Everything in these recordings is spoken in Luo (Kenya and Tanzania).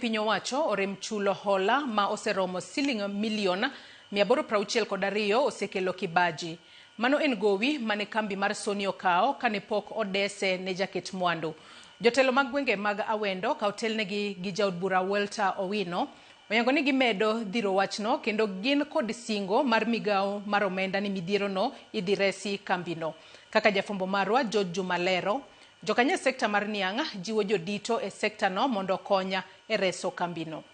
piny owacho orem chulo hola ma oseromo siling milion 862 osekelo kibaji. Mano en gowi mane kambi mar Sony okawo kane pok odese ne jaket mwandu. Jotelo mag gwenge mag Awendo ka otelnegi gi jaod bura Welter Owino oyango ni gimedo dhiro wachno kendo gin kod singo mar migawo mar omenda ni midhierono idhi resi kambino. Kaka jafwambo marwa George Juma lero, Jokanyo e sekta mar Niang' jiwo jodito e sektano mondo okony e reso kambino.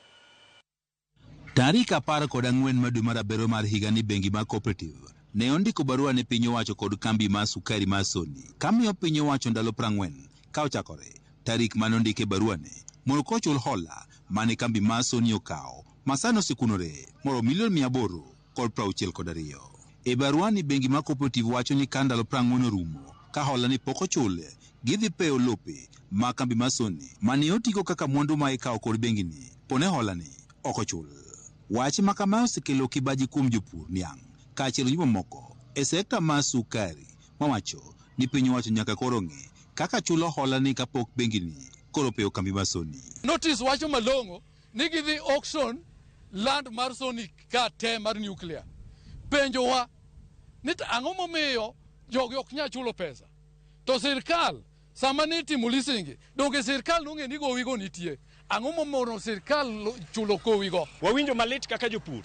Tarik apar kod ang'wen ma dwe mar abirio mar higani bengi mar Cooperative ne ondiko barua ne piny owacho kod kambi mar sukari mar Sony kamiyo piny owacho ndalo prang'wen ka ochakore tarik mane ondike baruane mondo kochul hola mane kambi mar Sony okawo masani osekunore moromo milion mia aboro kod prauchiel kod ariyo. E baruani bengi mar Cooperative wacho ni ka ndalo prang'wen orumo ka holani pok ochul, gidhi peyo lope mag kambi mar Sony mane otigo kaka mwandu ma ikawo kod bengini pone holani ok ochul. Wach makamae osekelo kibaji kuom jopur niang' kaachiel gi jomamoko e sekta mar sukari mawacho ni piny owacho nyaka koro ng'i kaka chulo holani kapok bengini koro opeyo kambi mar Sony. Notice wacho malong'o ni gidhi auction land mar sonic ka te mar nuclear penjowa ni to ang'o momiyo jogi ok nyal chulo pesa to sirkal sama ne itimo lisingi donge sirkal nong'e ni gowigo nitie ang'o momono sirkal lo- chulo kowigo Wawinjo malit kaka jopur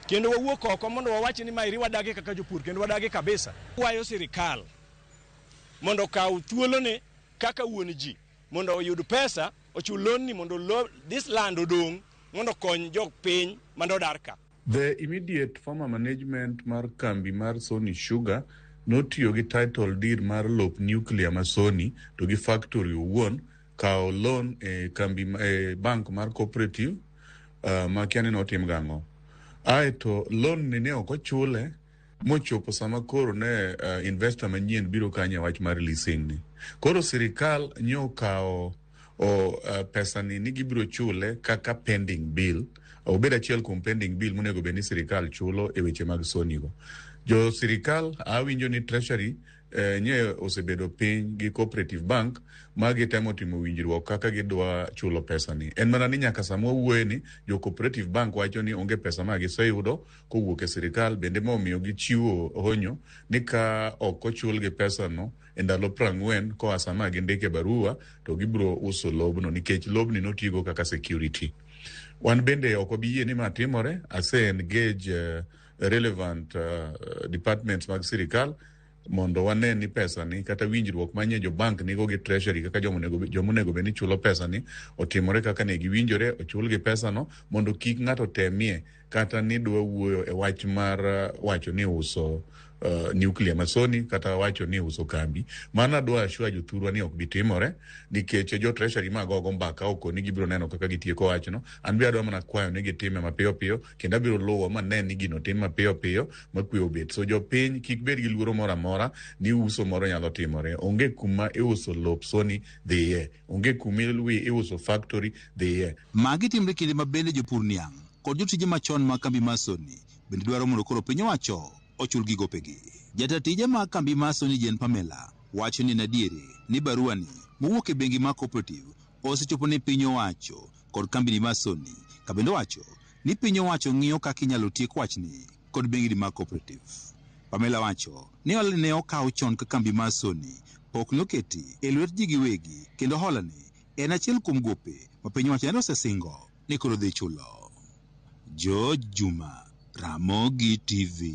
kendo wawuok oko mondo wawach ni maeri wadagi kaka jopur kendo wadagi kabisa. Kwayo sirikal mondo okaw thuolone kaka wuon ji mondo oyud pesa ochul lonni mondo lo, this land odong mondo kony jok piny mane odar ka. The immediate former management mar kambi mar Sony Sugar notiyo gi title deed mar lop nuclear ma Sony to gi factory owuon kawo loan e kambi e bank mar cooperative uh, ma kiani notim gang'o. Aeto loan ni ne ok ochule mochopo sama koro ne uh, investor manyien biro kanye wach mar leasing ni koro sirikal nyo kawo o uh, pesa ni ni gibiro chule kaka pending bill obed achiel kuom pending bill monego bed ni sirikal chulo e weche mag soni go jo sirikal awinjo ni treasury eh, nye osebedo piny gi cooperative bank ma gitemo timo winjruok kaka gidwa chulo pesa ni en mana ni nyaka sama wawuoye ni jo cooperative bank wacho ni onge pesa ma giseyudo kowuok e sirikal bende ma omiyo gichiwo honyo ni ka ok ochulgi pesano e ndalo prang'wen koa sama gindike barua to gibiro uso lobno nikech lobni notigo kaka security wan bende ok wabi yie ni ma timore ase engage uh, relevant uh, departments mag sirikal mondo wane ni pesani kata winjruok manye jo bank nigo gi treasury kaka joma onego bed ni chulo pesani otimore kaka ne giwinjore ochulgi pesano mondo kik ng'ato temie kata ni dwa wuoyo e wach mar uh, wacho ni uso uh, nuclear masoni kata wacho ni uso kambi mano adwa ashua jothurwa ni ok bitimore nikech jo treasury ma gogo mbaka oko ni gibiro neno kaka gitieko wachno an be adwa mana kwayo ni gitime mapiyo piyo kendo abiro luwo ma ne ni gino tim mapiyo piyo makwe obet so jopiny kik bed gi luoro moro amora ni uso moro nyalo timore onge kuma iuso lop soni dhiye onge kuma ilwi iuso factory dhiye Magi timre kinde ma bende jopur niang' kod jotije machon mag kambi mar Sony bende dwaro mondo koro piny owacho ochulgi gopegi. Jata tije mag kambi mar Sony Jane Pamela wacho ni en adieri ni baruani mowuok e bengi mar Cooperative osechopo ne piny owacho kod kambini mar Sony kabende owacho ni piny owacho ng'iyo kaka inyalo tiek wachni kod bengni mag cooperative. Pamela wacho ni hola ne okaw chon ka kambi mar Sony pok noketi e lwet ji giwegi kendo holani en achiel kuom gope ma piny owacho nende osesingo ni koro dhi chulo. George Juma, Ramogi TV.